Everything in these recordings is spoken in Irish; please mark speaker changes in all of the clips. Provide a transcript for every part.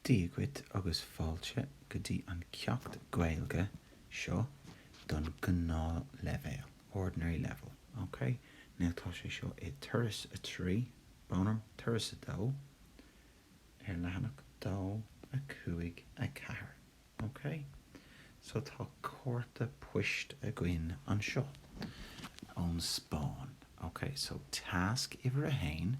Speaker 1: Dia dhuit agus fáilte go dtí an ceacht Gaeilge seo don gnáth leibhéal, ordinary level, ok? Now tá sé seo i Turas 3, bhuel i mo, Turas 2, ar leathanach 2, 5, 4, ok? So tá cárta poist againn anseo ón Spáinn, ok? So tasc uimhir a haon,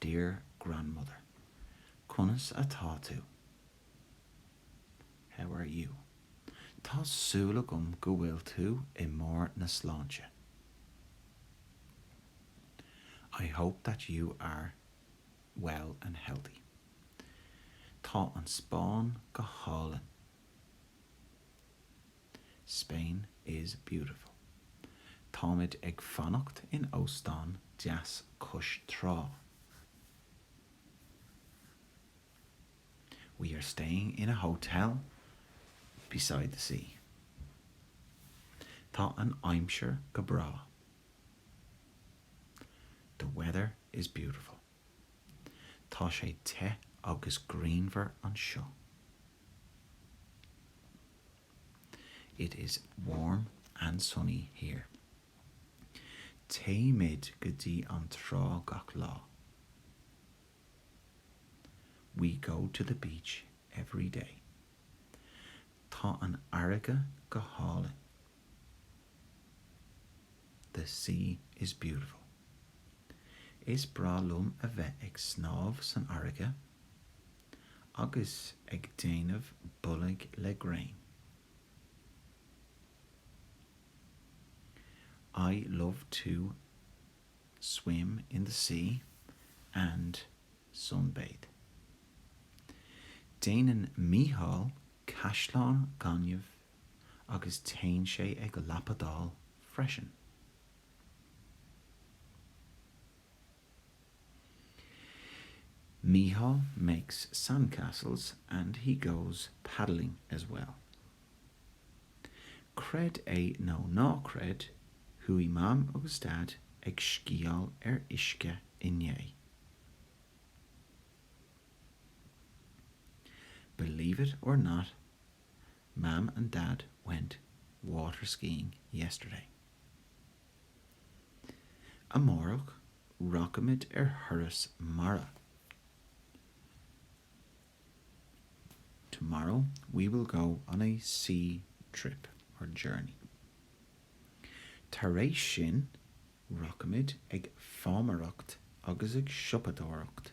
Speaker 1: Dear grandmother, conas atá tú? How are you? Tá súil agam go bhfuil tú i mbarr na sláinte. I hope that you are well and healthy. Tá an Spáinn go hálainn. Spain is beautiful. Táimid ag fanacht in óstán deas cois trá. We are staying in a hotel beside the sea. Tá an aimsir go breá. The weather is beautiful. Tá sé te agus grianmhar anseo. It is warm and sunny here. Téimid go dtí an trá gach lá. We go to the beach every day. Tá an fharraige go hálainn. The sea is beautiful. Is breá liom a bheith ag snámh san fharraige agus ag déanamh bolg le gréin. I love to swim in the sea and sunbathe. Déanann Mícheál caisleán gainimh agus téann sé ag lapadáil freisin. Mícheál makes sandcastles and he goes paddling as well. Creid é nó ná creid, chuaigh Mam agus Dad ag sciáil ar uisce inné. Believe it or not, Mam and Dad went waterskiing yesterday. Amárach, rachaimid ar thuras mara. Tomorrow we will go on a sea trip or journey. Tar éis sin, rachaimid ag fámaireacht agus ag siopadóireacht.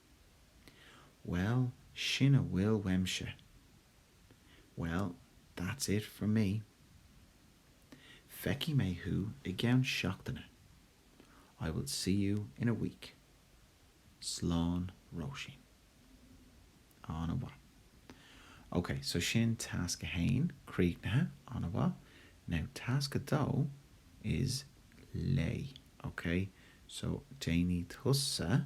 Speaker 1: Well, sin a bhfuil uaimse. Well, that's it for me. Feicfidh mé thú i gceann seachtaine. I will see you in a week. Slán, Róisín. An-mhaith. Ok, so sin tasc a haon, críochnaithe. An-mhaith. Now tasc a dó is léigh, ok? So déanfaidh tusa.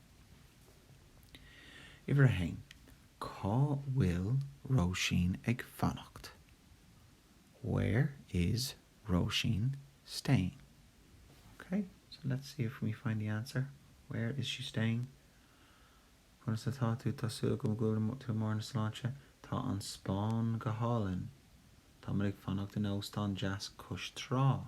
Speaker 1: Uimhir a haon, Cá bhfuil Róisín ag fanacht? Where is Róisín staying? Ok, so let's see if we find the answer. Where is she staying? Conas atá tú? Tá súil agam go bhfuil tú i mbarr na sláinte. Tá an Spáinn go hálainn. Táimid ag fanacht in óstán deas cois trá.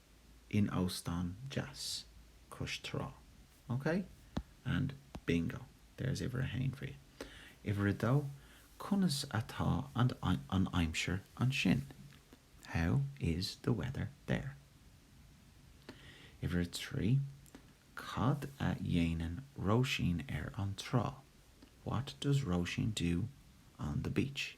Speaker 1: in óstán deas cois trá. OK? And bingo, there's uimhir a haon for you. Uimhir a dó, conas atá an aimsir ansin? How is the weather there? Uimhir a trí, cad a dhéanann Róisín ar an trá? What does Róisín do on the beach?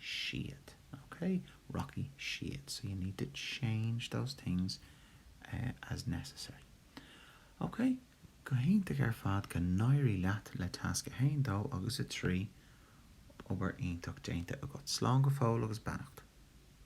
Speaker 1: siad. OK? Rachaidh siad. So you need to change those things as necessary. OK? Go hiontach ar fad, go n-éirí leat le tasc a haon, dó agus a trí. Obair iontach déanta agat. Slán go fóill agus beannacht.